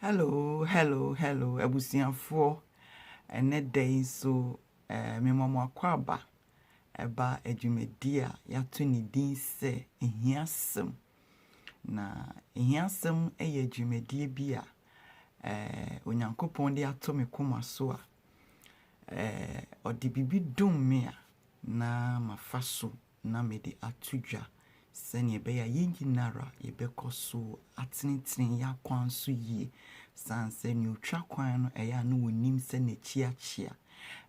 Hello, hello, hello, abusuafoɔ. Ɛnɛ da yi nso, eh, mema mo akɔ aba ɛba adwumadi a yɛato ne din sɛ Ehiasɛm. Na Ehiasɛm yɛ dwumadie bi a eh, Onyankopɔn de ato me koma so a eh, ɔde biribi dom me a na mafa so na mede ato dwa sɛnea ɛbɛyɛ a yɛn nyinara yɛbɛkɔ so atenetene yɛn akwan so yie. Ɛsiane sɛ nea ɔtwa kwan no, ɛyɛ a na wɔnim sɛ n'akyi akyea.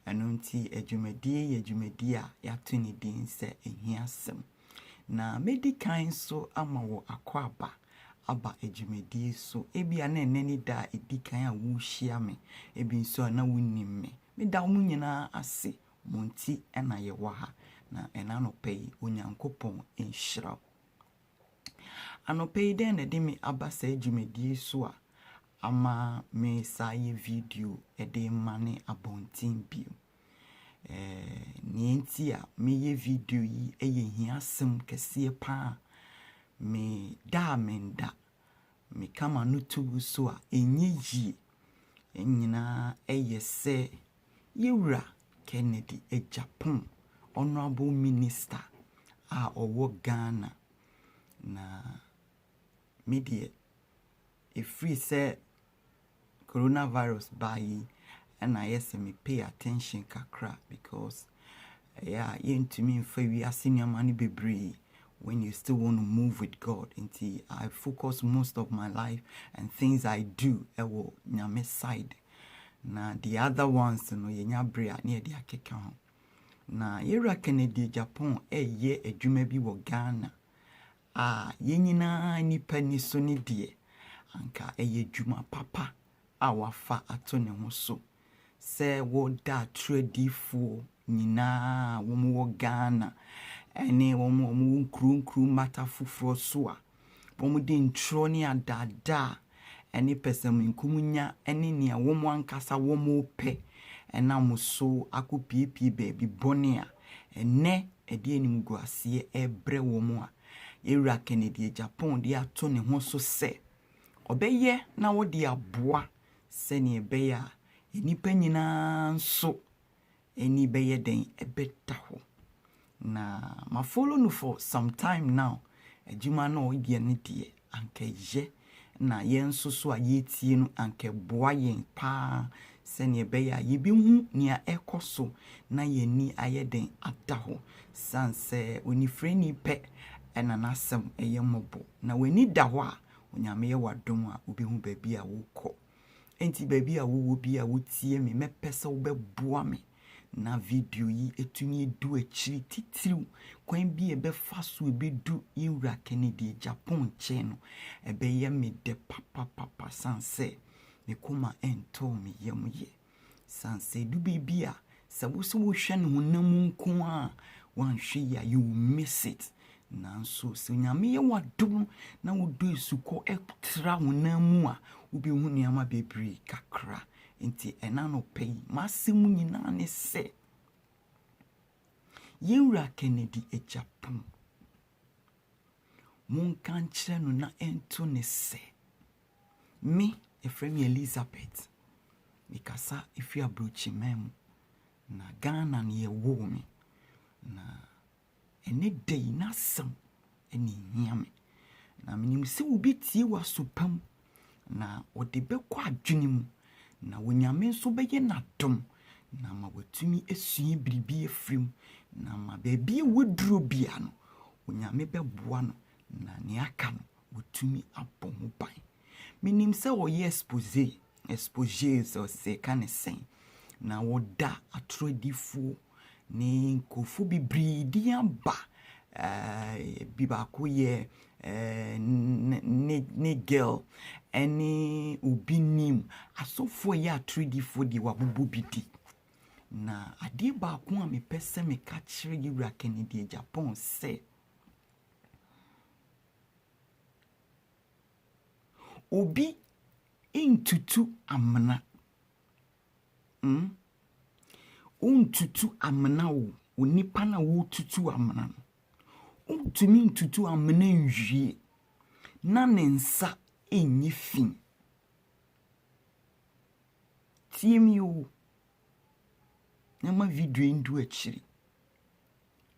Ɛno nti, dwumadie yi yɛ dwumadie a yɛato ne din sɛ Ahiasɛm. Na mɛdi kan nso ama wo akwaaba aba dwumadie yi so. Ebia na ɛnnɛ ne da a ɛdi kan a worehyia me, ebi nso a na wonnim me. Meda mo nyinaa ase Mo nti na yɛwɔ ha. Na ɛnnɛ anɔpa yi, Onyankopɔn nhyira wo. Anɔpa yi, dɛn na ɛde me aba saa dwumadie yi so a ama meresa ayɛ video de rema ne abɔnten bio? Nea enti a meyɛ video yi yɛ hiasɛm kɛseɛ pa ara. Meda a mennda, meka m'ano to wo so a, ɛnyɛ yie. Yɛn nyinaa yɛ sɛ Yewura Kennedy agya pon, Honourable Minister a ɔwɔ Ghana, na me deɛ ɛfiri sɛ Corona Virus baa yi na ayɛ sɛ me pay attention kakra because ɛyɛ a yɛntumi mfa wiase nneɛma no bebree when you still want to move with God nti I focus most of my life and things I do ɛwɔ Nyame side. na the other ones no yɛnya bere a na yɛde akeka ho. Na yɛwura Kennedy Agyapong reyɛ adwuma bi wɔ Ghana a yɛn nyinaa nnipa ni so ne deɛ anka ɛyɛ adwuma papa a wafa ato ne ho so sɛ wɔda atoro adiifoɔ nyinaa a wɔwɔ Ghana ne wɔn a wɔwɔ nkuro nkuro mmata foforɔ so a Wɔde nturo ne adaadaa ne pɛsɛmenkominya ne nea wɔn ankasa wɔpɛ nam so akɔpuepue baabi bɔne a ɛnnɛ ɛde animguaseɛ rebrɛ wɔn a Yɛwura Kennedy Agyapong de ato ne ho so sɛ ɔbɛyɛ na ɔde aboa sɛdeɛ ɛbɛyɛ a nnipa nyinaa nso ani bɛyɛ dɛn ɛbɛda hɔ na ma follow no for some time now adwuma no a ɔyɛ no deɛ anka ɛyɛ na yɛn nso so a yɛretie no anka ɛboa yɛn paa sɛnea ɛbɛyɛ a yɛbɛhu nea ɛkɔ so na yɛn ani ayɛ dɛn ada hɔ san sɛ onifirani pɛ ɛna n'asɛm ɛyɛ mmɔbɔ na w'ani da hɔ a onyame yɛ w'adom a wobɛhu baabi a wokɔ Enti baabi a wowɔ bi a wotie me, mɛpɛ sɛ wobɛboa me na video yi atumi adu akyiri, titiriw kwan bi a ɛbɛfa so ebedu yɛn Wura Kennedy Agyapong nkyɛn no. Ɛbɛyɛ me dɛ papapapa san sɛ me koma ntɔɔ me yam yɛ. Sansɛdu bi bi a sɛ wo sɛ wohwɛ no honam mu nko a wanhwɛ yie a you will miss it. Nanso sɛ Nyame yɛ w'adom na wodɔ asukɔ tra honam mu a wobɛhu nneɛma bebree kakra. Nti ɛna anɔpa yi m'asɛm nyinaa ne sɛ yɛn wura Kennedy Agyapong Monka nkyerɛ no na ɛnto no sɛ, Me, yɛfrɛ me Elizabeth. Mekasa firi aburokyiman mu, na Ghana na yɛwoo me. Na ɛne da yi n'asɛm na ɛhia me. Na menim sɛ wobɛtie w'aso pa mu na ɔde bɛkɔ adwene mu, na Onyame nso bɛyɛ no adom na ama watumi asua biribi afiri mu, na ama baabi a waduro biara no, Onyame bɛboa no na nea aka no, watumi abɔ ho ban. Menim sɛ ɔyɛ expose, exposés, ɔsɛ ka ne sɛn, na ɔda atoro adifoɔ ne nkurɔfoɔ bebree din aba. Ɛɛ bi baako yɛ ɛɛ ne ne girl ne obi nim. Asɔfoɔ yi atorodifoɔ deɛ wɔabobɔ bi di. Na adeɛ baako a mepɛ sɛ meka kyerɛ Yewura Kennedy Agyapong sɛ, obi ntutu amena. mm, wontutu amena o, onipa na wotutu amena no, wontumi ntutu amena nwie na ne nsa nyi fi. Tie mi o, na ma video yi ndu akyiri.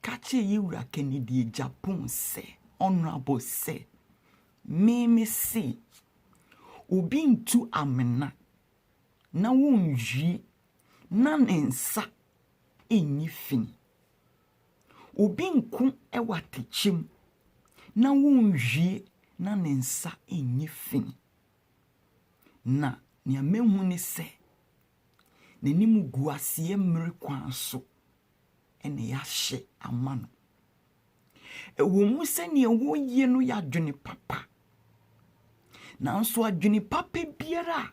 Ka kyerɛ yɛ wura Kennedy Agyapong sɛ, honorable sɛ, me me se, obi ntu amena na wonwie na ne nsa nnye fi. Obi nko wɔ atɛkyɛ mu na wonwie na ne nsa nnye fi. Na nea mahu ne sɛ, n'anim guaseɛ mmere kwan so na yɛahyɛ ama no. Ɛwɔ mu sɛ nea wɔreyɛ no yɛ adwene papa, nanso adwene papa biara a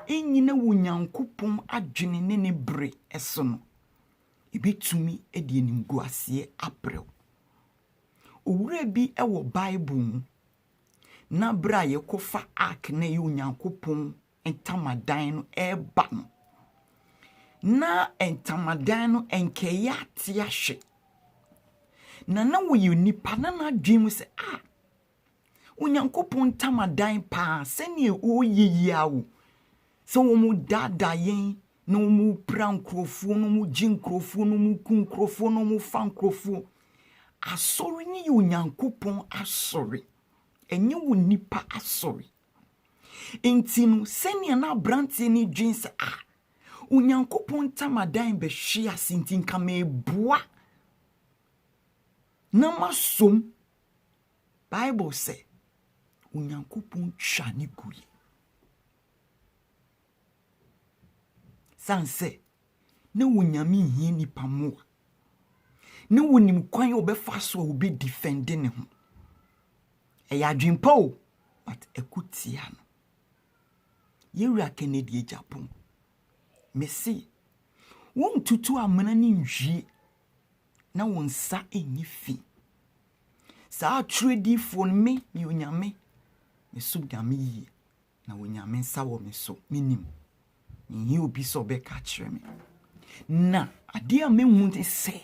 ɛnnyina wɔ Nyankopɔn adwene ne ne bere so no, ɛbɛtumi de animguaseɛ abrɛ wo. Owura bi wɔ Bible mu, na bere a yɛkɔfa Ark no yɛ Onyankopɔn ntamadan no reba no, na ntamadan no nkɛyɛ ate ahwe. Na na wɔyɛ nipa na n'adwene mu sɛ, a ah, Onyankopɔn ntamadan paa sɛnea ɔreyɛ yi a o, sɛ wɔn daadaa yɛn na wɔn pira nkurɔfoɔ na wɔn gye nkurɔfoɔ na wɔn ku nkurɔfoɔ na wɔn fa nkurɔfoɔ. Asɔre no yɛ Onyankopɔn asɔre, ɛnyɛ wo nipa asɔre. Enti no, sɛnea na aberanteɛ no dwen sɛ, Ah, Onyankopɔn ntamadan bɛhwe ase nti, nka meboa na masom. Bible sɛ, Onyankopɔn twa ne guiɛ. San sɛ, Ne wo Nyame nhia nnipa mmoa. Ne wo nim kwan a ɔbɛfa so a obe defend ne ho. Ɛyɛ adwen pa o, but ɛko tia no. Yɛwura Kennedy Agyapong, mese wo ntutu amena no nwie na wo nsa nyi fi. Saa atorɔ difoɔ no me, me Onyame, me so Nyame yie. na wɔanya me nsa wɔ me so. Mennim. Menhia obi sɛ ɔbɛka akyerɛ me. Na adeɛ a mehu ne sɛ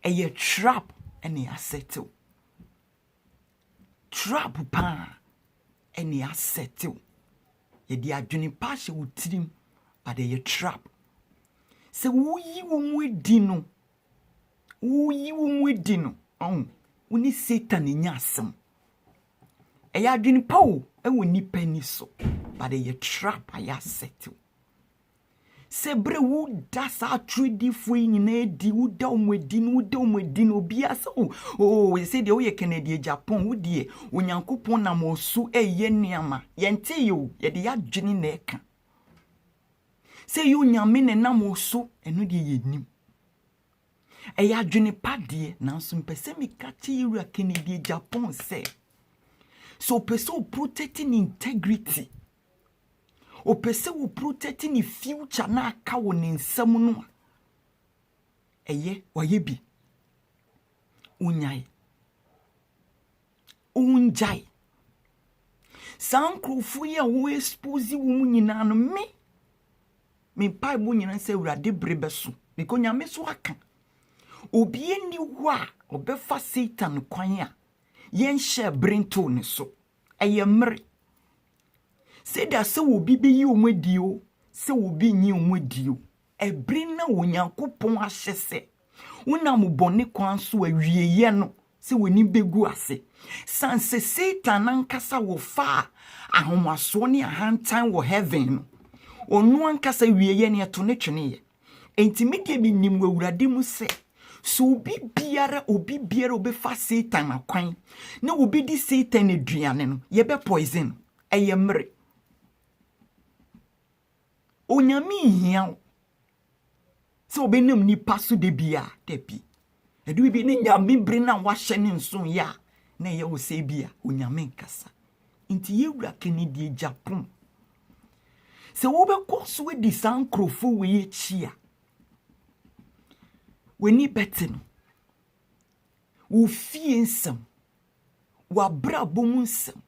ɛyɛ trap ɛne asɛtew. Trap paa ɛne asɛtew. Yɛde adwene pa ahyɛ wo tirim but ɛyɛ trap. Sɛ woyi wo mu adi no, woyi wo mu adi no, ɔn, wo ne Satan nya asɛm. Ɛyɛ adwene pa o ɛwɔ nipa ani so but ɛyɛ trap a yɛasɛt o. Sɛ berɛ woda saa atoro adiifoɔ yi nyinaa adi, woda wɔn adi no, woda wɔn adi no, obiara sɛ o, o, ɛsɛ deɛ woyɛ Kennedy Agyapong, wo deɛ Onyankopɔn nam wo so ɛyɛ nneɛma. Yɛntee yɛ o, yɛde yɛadwene na ɛka. Sɛ yɛ Onyame na ɛnam wo so, ɛno deɛ yɛnim. Ɛyɛ adwene pa deɛ, nanso mepɛ sɛ meka kyerɛ Wura Kennedy Agyapong sɛ, sɛ ɔpɛ sɛ ɔprotɛte ne integrity, ɔpɛ sɛ ɔprotɛte ne future na aka wɔ ne nsam no a, ɛyɛ wayɛ bi. Ɔnyae. Wongyae. Saa nkurɔfoɔ yi a wo expose wo mu nyinaa no, me, me mpaebɔ nyinaa sɛ Awurade bere bɛso, because Nyame so aka. Obiara nni hɔ a ɔbɛfa Satan kwan a yɛnhyɛɛ bere ntoo ne so. Ɛyɛ mmere. Sɛdeɛ sɛ obi bɛyi wɔn adi o, sɛ obi nyi wɔn adi o, Bere no a Onyankopɔn ahyɛ sɛ wonam bɔne kwan so awieeɛ no sɛ w'ani bɛgu ase. Sane sɛ Satan ankasa wɔfaa ahomasoɔ ne ahantan wɔ heaven no, ɔno ankasa awieeɛ no ɛto no tweneeɛ. Enti me deɛ menim wɔ Awurade mu sɛ, sɛ obi biara obi biara ɔbɛfa Satan akwan na ɔbɛdi Satan aduane no, yɛbɛ poison no. Ɛyɛ mmere. Onyame nhia wo sɛ ɔbɛnam nnipa so da bi a, dabi. Ɛdu bi ne Nyame bere no a wahyɛ ne nso yɛ a, na ɛyɛ wo sɛ bi a Onyame nkasa. Nti yɛwura Kennedy Agyapong, sɛ wobɛkɔ so adi saa nkurɔfoɔ wei akyi a, w'ani bɛte no, wo fie nsɛm, w'abrabɔ mu nsɛm.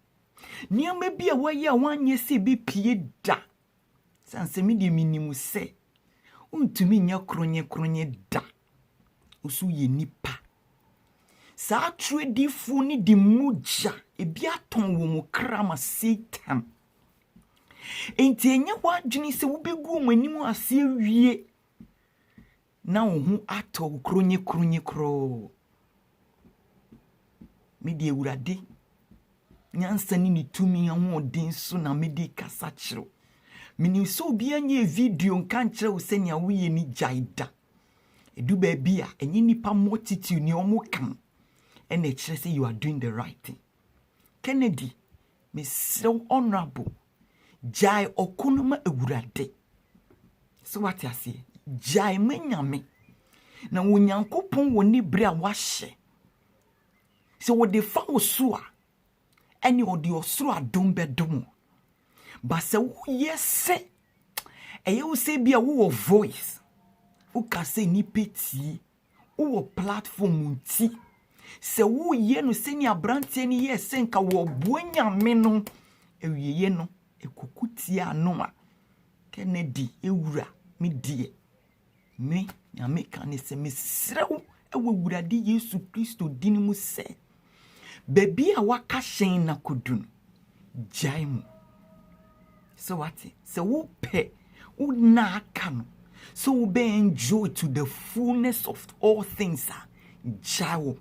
Nneɛma bi a woayɛ a woanyɛ sɛ ebepue da. Sane sɛ me deɛ menim sɛ wontumi nyɛ kronye kronye da. Woso yɛ nipa. Saa atoro adiifoɔ no de mogya ebi atɔn wɔn kra ma Satan. Enti ɛnyɛ w'adwene sɛ wobɛgu wɔn anim ase awie Na wo ho atɔ wo kronnyekronnyekrooo. Mede Awurade nyansa ne ne tumi ahoɔden so na mede rekasa kyerɛ wo. Menim sɛ obiara nyɛɛ video nka nkyerɛ wo sɛnea woyɛ no gyae da. Ɛdu baabi a, ɛnyɛ nnipa multitude nea wɔka na ɛkyerɛ sɛ you are doing the right thing. Kennedy, mesrɛ wo honorable, Gyae ɔko no ma Awurade. So wate aseɛ? Gyae ma Nyame. Na Onyankopɔn wɔ ne bere a wahyɛ. Sɛ wɔde fa wo so a, ɛne ɔde ɔsoro adom bɛdom wo. Ba sɛ woyɛ sɛ ɛyɛ wo sɛ bi a wowɔ voice, woka sɛ nnipa tie Wowɔ platform nti, sɛ woyɛ no sɛnea aberanteɛ no yɛɛ sɛ nka wɔboa nyame no, awieɛ no ɛkɔku tiaa no a, Kennedy wura me deɛ, me nyame ka ne sɛ mesrɛ wo wɔ Awurade Yesu Kristo dini mu sɛ, Baabi a waka hyɛn no akodu no, gyae mu. So wate? Sɛ wopɛ wo nna aka no, sɛ wobɛ enjoy to the fullness of all things a, gyae wo.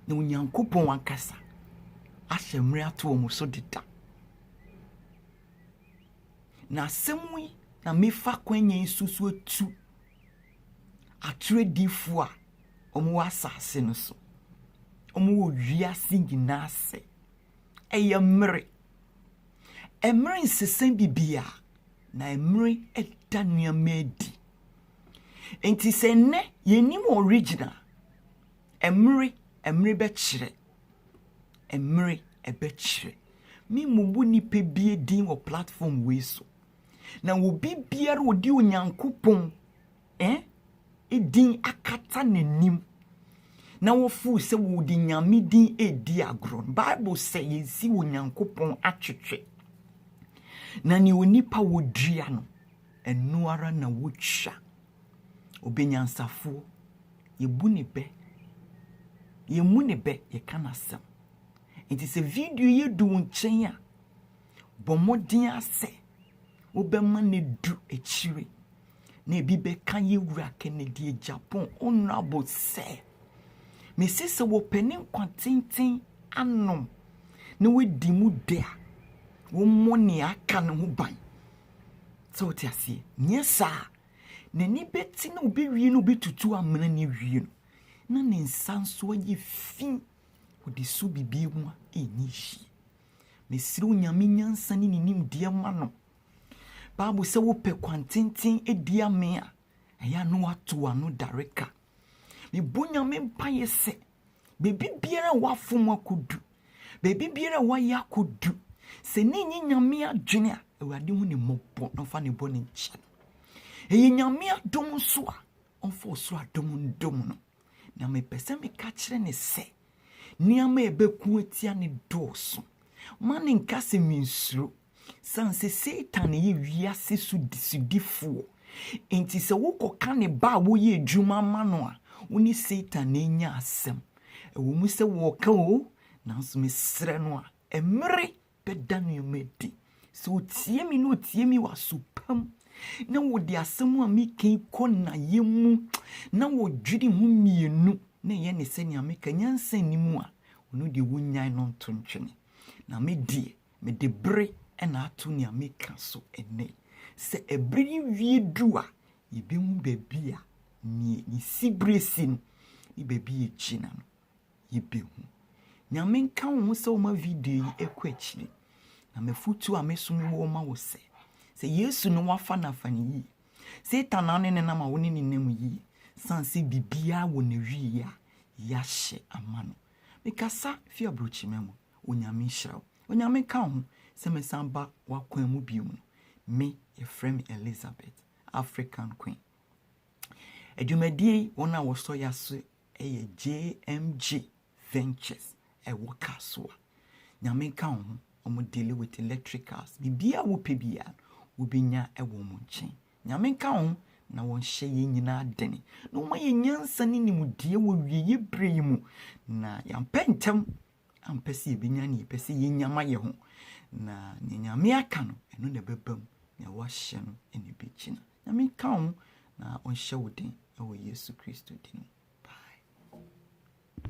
Na Onyankopɔn ankasa ahyɛ mmere ato wɔn so deda. Na asɛm yi na mefa kwan nyɛ nsusu atu atorɛ difoɔ a wɔwɔ asase no so, wɔwɔ wiase nyinaa ase. Ɛyɛ mmere. Mmere nsesa biribiara, na mmere da nneɛma adi. Enti sɛ nnɛ yɛnnim original a, mmere, mmere bɛkyerɛ. Mmere ɛbɛkyerɛ. Memmubu nnipa bi din wɔ platform wei so. Na obi biara a ɔde Onyankopɔn eh, din akata n'anim na wɔfuu sɛ wɔde nyame din ɛredi agorɔ no bible sɛ yɛsi onyankopɔn atwetwe na ne onipa wɔdua no ɛno ara na wɔtwa ɔbɛnyansafoɔ yɛbu ne bɛ yɛmu ne bɛ yɛka no asɛm nti sɛ video yɛdu wo nkyɛn a Bɔ mmɔden ara sɛ wobɛma no adu akyire na ebi bɛka yɛn Wura Kennedy Agyapong Honourable sɛ, Mese sɛ wɔpɛ ne nkwa tenten anom na wadi mu dɛ a, wɔmmɔ nea aka no ho ban. Sɛ wote aseɛ? Nyɛ saa a, n'ani bɛte na obewie na obetutu amena ne awie no na ne nsa nso ayɛ fi. Wɔde so biribi mu a ɛnyɛ yie. Mesrɛ wo Nyame nyansa ne ne nimdeɛ ma no. Bible sɛ wopɛ kwan tenten adi ame a, ɛyɛ a na wato w'ano dare ka. Mebɔ Nyame mpaeɛ sɛ baabi biara a wafom akɔdu, baabi biara a wayɛ akɔdu, sɛ ne nye Nyame adwene a, Awurade hu ne mmɔbɔ na ɔmfa ne bɔne nkyɛ no. Ɛyɛ Nyame adom nso a, ɔmfa ɔsoro adom ndom no. Na mepɛ sɛ meka kyerɛ ne sɛ, nneɛma a ɛbɛko atia no dɔɔso. Ma no nka sɛ minsuro, sane sɛ Satan yɛ wiase so sodifoɔ. Enti sɛ wokɔka ne ba a woyɛ adwuma ma no a, wo ne Satan na anya asɛm. Ɛwɔ mu sɛ wɔreka oo, nanso mesrɛ no a, mmere bɛda nneɛma adi. Sɛ wotie me na wotie me wɔ aso pa mu, na wɔde asɛm a meka yi kɔ nnayɛ mu, na wɔdwiri ho mmienu, na ɛyɛ ne sɛnea meka, nyansa nni mu a, ɔno deɛ wonnyae no nto ntwene. Na me deɛ, mede bere na ato nea meka so ɛnnɛ yi. Sɛ ɛbere yi wie du a, yɛbɛhu baabi a neɛ ne siberɛ si no, ne baabi a ɛgyina no. yɛbɛhu. Nyame nka wo ho sɛ woma video yi ɛkɔ akyiri. Na m'afotuo a me so me wɔ ma wo sɛ, sɛ Yesu ne wo afa no afa no yie. Satan na wo ne no nam a wo ne no nam yie. Sane sɛ biribiara wɔ n'awieɛ a yɛahyɛ ama no. Me kasa firi aburokyima mu. Onyame nhyira wo. Onyame nka wo ho sɛ mɛsan ba w'akwan mu bio no. Me, yɛfrɛ me Elizabeth, African Queen. Adwumadie yi, wɔn a wɔsɔ yɛase Ɛyɛ JMG ventures ɛwɔ Kasoa. Nyame nka wɔn ho. Wɔn deal with electric cars. Biribiara a wopɛ biara no wobɛnya ɛwɔ wɔn nkyɛn. Nyame nka wɔn ho na wɔnhyɛ yɛn nyinaa dene. Na wɔma yɛn nyansa ne nimdeɛ wɔ wieɛ berɛ yi mu. Na yɛampɛ ntɛm ampɛ sɛ yɛbɛnya nea yɛpɛ sɛ yɛnya ma yɛn ho. Na nea Nyame aka no ɛno na ɛbɛbam. Nea wahyɛ no na ɛbɛgyina. Nyame nka wo ho na ɔnhyɛ wo den wɔ Yesu Kristo din mu. Bye.